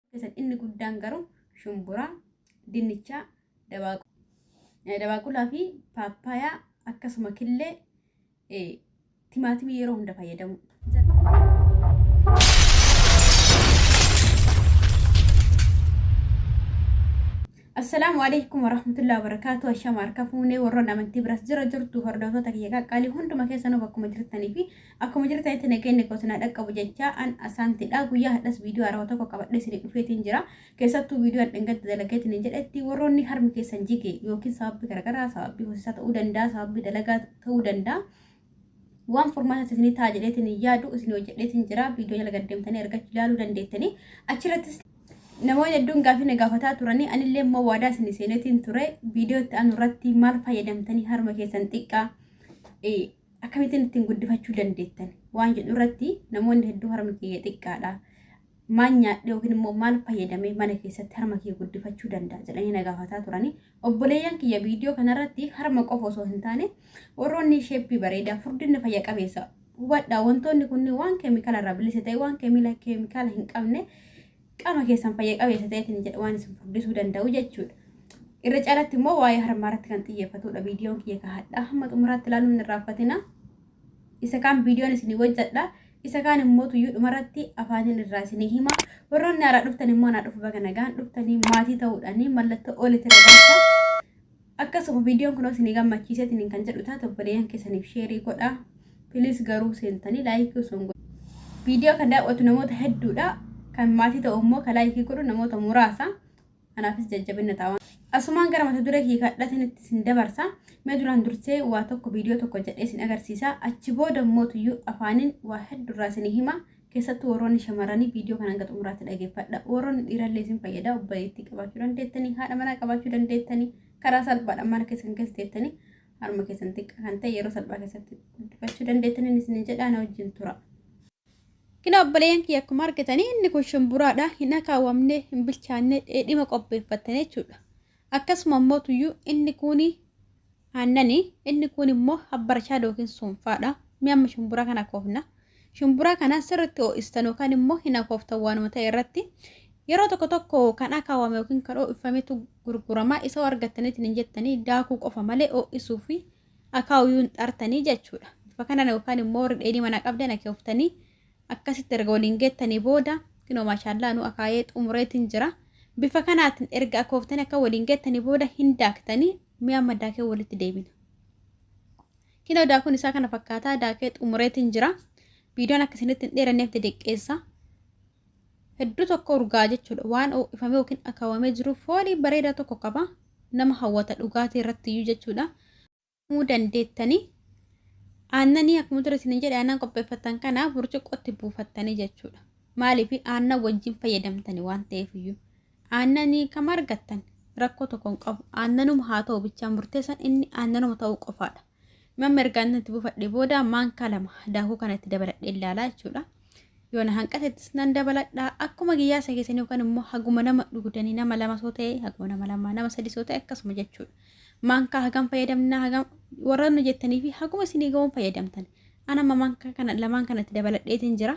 keessatti inni guddaan garuu shumburaa, dinnichaa, dabaaqu- eh, dabaaqulaa fi paappaayaa akkasuma killee eh, timaatimii yeroo hunda fayyadamu. Assalaamu alaikum warahmatullahi wabarakatuh. Ashama harka fuunee warroon amantii biras jira jirtu hordoftoota kiyya qaqqaalii hunduma keessanuu bakkuma jirtanii fi Akkuma jirtanitti nageenyi koo isin haa dhaqqabu jechaa an asaantidha. Guyyaa hadhas viidiyoo haarawaa tokko qabadhee isinii dhufeetiin jira. Keessattuu viidiyoo an dhingatti dalageetiin hin jedhetti warroonni harmi keessan jige yookiin sababbi garagaraa sababbi hosisaa ta'uu danda'a sababbi dalagaa ta'uu danda'a. Waan furmaata isinii ta'a jedheetiin hin yaadu isinii hojjedheetiin jira. Viidiyoo jala gaddeemtanii argachuu ilaaluu dandeettanii achirrattis namoonni hedduun gaafii na gaafataa turanii anillee immoo waadaa isinii seeneetiin ture viidiyoo itti aanu irratti maal fayyadamtanii harma keessan xiqqaa akkamittiin ittiin guddifachuu dandeettan waan jedhu irratti namoonni hedduu harmi kiyya xiqqaadha. Maal nyaadhe yookiin immoo maal fayyadamee mana keessatti harma kiyya guddifachuu danda'a jedhanii na gaafataa turani. Obboleeyyan kiyya viidiyoo kanarratti harma qofa osoo hin taane warroonni sheeppii bareedaa furdinni fayya qabeessa hubadhaa wantoonni kunniin waan keemikaala irraa bilisa ta'e waan keemikaala hin qabne Qaama keessan fayya qabeessa ta'eetiin jedha waan isin furdisuu danda'u jechuudha. Irra caalatti immoo waa'ee harmaa irratti kan xiyyeeffatudha. Viidiyoon kiyya kan hadhaa hamma xumuraatti ilaaluun hin irraanfatina. Isa kaan viidiyoon isinii hojjedha. Isa kaan immoo tuyyuu dhumarratti afaaniin irraa isinii hima. Warroonni haaraa dhuftan immoo naa dhufu baga nagaan dhuftanii maatii ta'uudhaanii mallattoo olitti ragaa Akkasuma viidiyoon kunoo isin gammachiisee isiniin kan jedhu taate obboleeyyan keessaniif sheerii godha. Piliis garuu seentanii laayikii osoo hin godhin. Viidiyoo kan daawwatu namoota hedduudha. Kan maatii ta'u immoo kan laayikii godhu namoota muraasa. Anaafis jajjabinna ta'a waan. Asumaan gara mata duree kiyya kadhatanitti isin dabarsa. Mee duraan dursee waa tokko viidiyoo tokko jedhee isin agarsiisa. Achi booda immoo tuyyuu afaaniin waa hedduurraa isinii hima. Keessattuu warroonni shamarranii viidiyoo kana hanga xumuraatti dhageeffadha. Warroonni dhiirallee isin fayyada obboleettii qabaachuu dandeettanii, haadha manaa qabaachuu dandeettanii, karaa salphaadhaan mana keessan keessa teettanii harma keessan xiqqaa kan ta'e yeroo salphaa keessatti guddifachuu dandeettaniin isin jedhaa na wajjin tura. Kina obboleeyyan kiyya akkuma argitanii inni kun shimburaadha hin akaawamne hin bilchaanne dheedhima qopheeffattan jechuudha. Akkasuma immoo tuyyuu inni kun Aannani, inni kuun immoo habbarchaada yookiin suunfaadha. Mee amma shumburaa kana akoofna. Shumburaa kana sirritti ho'istan yookaan immoo hin akooftan waanuma ta'e irratti. Yeroo tokko tokko kan akaawame yookiin kan ho'ifametu gurgurama. Isa argattaniitiin hin jettanii daakuu qofa malee ho'isuu fi akaawuu hin xartanii jechuudha. Bifa kanaan yookaan immoo warri dheedhii manaa qabdan akooftanii akkasitti erga waliin geettanii booda kinoo maashaallaa nu akaayee xumureetiin jira. Bifa kanaatiin erga akooftanii akka waliin geettanii booda hin daaktanii Mee amma daakee walitti deebina. Kinoo daakuun isaa kana fakkaataa daakee xumureetiin jira. Viidiyoon akka isinitti hin dheeranneef didiqqeessa. Hedduu tokko urgaa jechuudha. Waan ho'ifamee yookiin akaawamee jiru foolii bareedaa tokko qaba. Nama hawwata dhugaatii irratti iyyuu jechuudha. Muu dandeettanii aannanii akkuma dura isin jedhe aannan qopheeffattan kana burcuqqootti buufattanii jechuudha. Maaliif aannan wajjin fayyadamtanii waan ta'eef iyyuu. Aannanii kam argattan rakkoo tokko hin qabu. Aannanuma haa ta'u bichaan murteessan inni aannanuma ta'uu qofaadha. Mamma erga aannan itti buufadhee booda maankaa lama daakuu kana itti dabaladhee ilaalaa jechuudha. Yoo na hanqatettis nan dabaladha. Akkuma giyyaasa keessanii yookaan immoo haguma nama dhugdanii nama lama soo ta'e haguma nama lama nama sadii soo ta'e akkasuma jechuudha. Maankaa hagam fayyadamna hagam warra nu jettanii fi haguma isinii ga'uun fayyadamtan. Ana amma maankaa kana lamaan kanatti dabaladheetiin jira.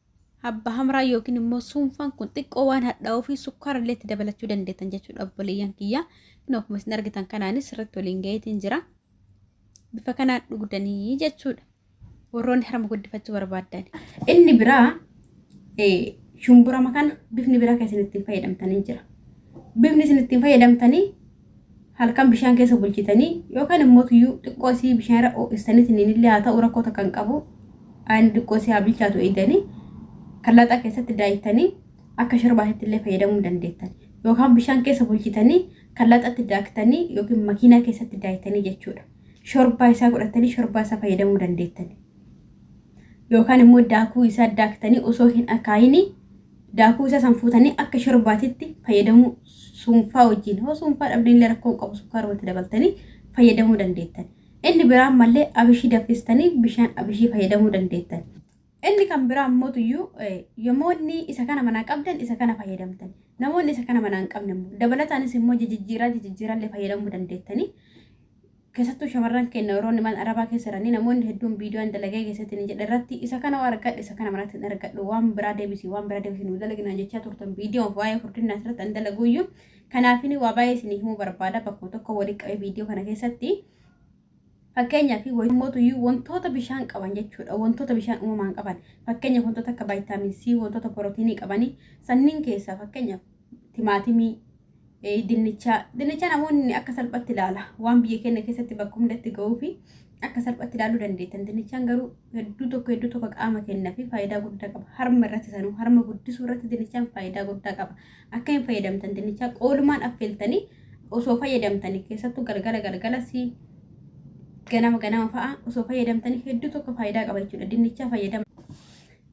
Habba hamraa yookiin immoo suunfaan kun xiqqoo waan hadhaa'uu fi sukkaara illee itti dabalachuu dandeettan jechuudha obboleeyyan kiyya. Kun akkuma isin argitan kanaanis sirriitti waliin gaheetiin jira. Bifa kanaan dhugdanii jechuudha. Warroonni harma guddifachuu barbaaddan. Inni biraa shumburama kana bifni biraa kan isin ittiin fayyadamtanii jira. Bifni isin ittiin fayyadamtanii halkan bishaan keessa bulchitanii yookaan immoo tuyyuu xiqqoo isii bishaan irra ho'istaniitiin illee haa ta'u rakkoo takka hin qabu. Aayini xiqqoo isii haa bilchaatu eegdanii kan laxaa keessatti daayittanii akka shorbaatitti illee fayyadamuu ni dandeettan. Yookaan bishaan keessa bulchitanii kan laxatti daaktanii yookiin makiinaa keessatti daayittanii jechuudha. Shorbaa isaa godhattanii shorbaa isaa fayyadamuu dandeettan. Yookaan immoo daakuu isaa daaktanii osoo hin akaayinii Daakuu isaa san fuutanii akka shorbaatitti fayyadamuu suunfaa wajjin hoo suunfaa dhabdeenillee rakkoo hin qabu sukkaaruma itti dabaltanii fayyadamuu dandeettan. Inni biraan mallee abishii daffistanii bishaan abishii fayyadamuu dandeettan. Inni kan biraa ammoo tuyyuu yomoonni isa kana manaa qabdan isa kana fayyadamtan. Namoonni isa kana manaa hin qabne immoo dabalataanis immoo jijijjiiraa jijijjiiraallee fayyadamuu dandeettanii. Keessattuu shamarran keenna warroonni mana arabaa keessa jiranii namoonni hedduun viidiyoo an dalagee keessatti ni jedhe irratti isa kana hoo argadhe isa kana manatti hin argadhu waan biraa deebisi waan biraa deebisi nuu dalagi naan jechaa turtan viidiyoon waa'ee furdinnaas irratti an dalaguuyyu kanaafini waa baay'ee isinii himuu barbaada bakkuma tokko walii qabee viidiyoo kana keessatti Fakkeenyaa fi wayitumootuyyuu wantoota bishaan qaban jechuudha. Wantoota bishaan uumamaan qaban. Fakkeenyaaf wantoota akka vaayitaamin C, wantoota pirootiinii qabanii sanniin keessaa fakkeenyaaf timaatimii, eh, dinnichaa. Dinnicha namoonni akka salphatti ilaala. Waan biyya keenya keessatti bakka hundatti ga'uu fi akka salphatti ilaaluu dandeettan. Dinnichaan garuu hedduu tokko hedduu tokko qaama kennaa fi faayidaa guddaa qaba. Harma irratti sanuu harma guddisuu irratti dinnichaan faayidaa guddaa qaba. Akka hin fayyadamtan dinnichaa qoolumaan affeeltanii osoo fayyadamtanii keessattuu galgala galgala si ganama ganama fa'a osoo fayyadamtanii hedduu tokko faayidaa qaba jechuudha. Dinnichaa fayyadama.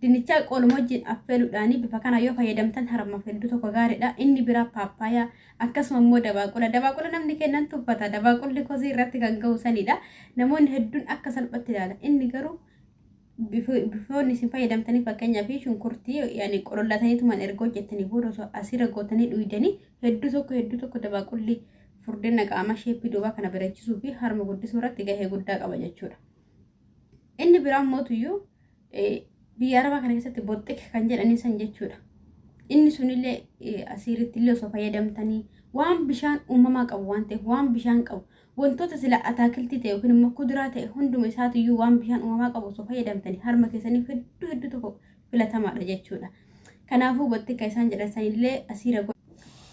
Dinnichaa qooluma wajjin affeeluudhaanii bifa kanaan yoo fayyadamtan harmaaf hedduu tokko gaariidha. Inni biraa paappaayaa akkasuma immoo dabaaqula. Dabaaqula namni kennan tuffata. Dabaaqulli kosii irratti kan gahu sanidha. Namoonni hedduun akka salphatti ilaala. Inni garuu bifi- bifoonni isin fayyadamtanii fakkeenyaa fi shunkurtii yani qolollatanii tuman erga hojjettanii booda osoo asirra gootanii dhuydanii hedduu tokko hedduu tokko dabaaqulli furdina qaamaa sheeppii duubaa kana bareechisuu fi harma guddisuu irratti gahee guddaa qaba jechuudha. Inni biraa mootuyyuu biyya arabaa kana keessatti boxxik kan jedhanii san jechuudha. Inni sunillee asiiritti illee osoo fayyadamtanii waan bishaan uumamaa qabu waan ta'eef waan bishaan qabu wantoota sila ataakiltii ta'e yookiin immoo kuduraa ta'e hunduma isaatiyyuu waan bishaan uumamaa qabu osoo fayyadamtanii harma keessaniif hedduu hedduu tokko filatamaadha jechuudha. Kanaafuu boxxika isaan jedhan sanillee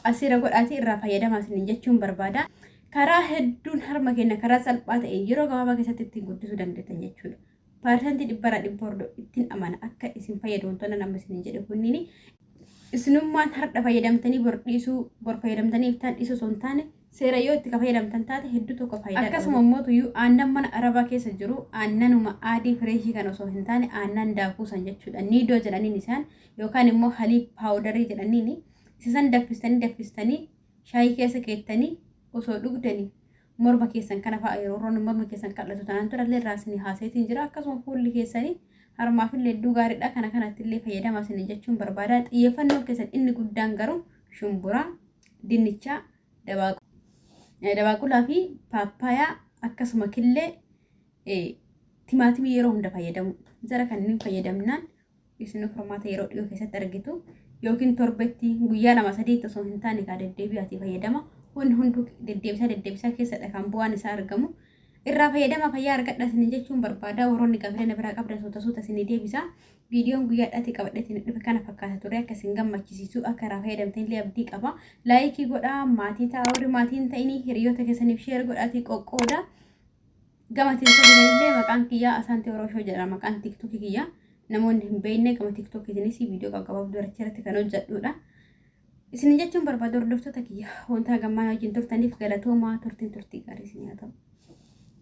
asiira godhaatii irraa fayyadamaa isiniin jechuun barbaada. Karaa hedduun harma keenya karaa salphaa ta'een yeroo gabaabaa keessatti ittiin guddisuu dandeettan jechuudha. Parsantii dhibbarraa dhibba hordoo ittiin amana akka isin fayyadu wantoonni nama isin jedhe kunniin isinummaan hardha fayyadamtanii bor dhiisuu bor fayyadamtanii iftaan dhiisuu osoo hin taane seera yoo itti ka fayyadamtan taate hedduu tokko faayidaa qaba. Akkasuma immoo tuyyuu aannan mana arabaa keessa jiru aannanuma aadii fireeshii kan osoo hin taane aannan daakuu san jechuudha. Niidoo jedhaniin isaan yookaan immoo halii paawudarii jedhaniin isa san daffistanii daffistanii shaayii keessa keettanii osoo dhugdanii morma keessan kana fa'a yeroo roonni morma keessan qal'atu taanaan dura illee irraa isin haaseetiin jira akkasuma fuulli keessanii harmaaf illee hedduu gaariidha kana kanatti illee fayyadama isin jechuun barbaada xiyyeeffannoon keessan inni guddaan garuu shumburaa dinnichaa dabaaqulaa fi paappaayaa akkasuma killee timaatimii yeroo hunda fayyadamu jara kanneen fayyadamnaan isin furmaata yeroo dhiyoo keessatti argitu yookiin torbetti guyyaa lama sadiitti osoo hin taane kaa deddeebi'aatii fayyadama wanni hunduu deddeebisaa deddeebisaa keessadha kan bu'aan isaa argamu irraa fayyadama fayyaa argadha isin jechuun barbaada warroonni gaaffilee na biraa qabdan suuta suuta isin deebisa viidiyoon guyyaadhaatti qabadheetiin dhufe kana fakkaata ture akka isin gammachisiisu akka irraa fayyadamtan illee abdii qaba laayikii godhaa maatii ta'a warri maatiin ta'inii hiriyoota keessaniif sheer godhaatii qoqqooda. Gama teeltokiitiin illee maqaan kiyyaa Asaanti Oroshoo jedha maqaan tiktokii kiyya. Namoonni hin beekne gama tiktokiitiinis viidiyoo qaqqababduu irratti irratti kan hojjedhuudha. Isin jechuun barbaadu hordoftoota kiyya wanta gammaan wajjin turtaniif galatoomaa turtiin turtii gaarii isin haa ta'u.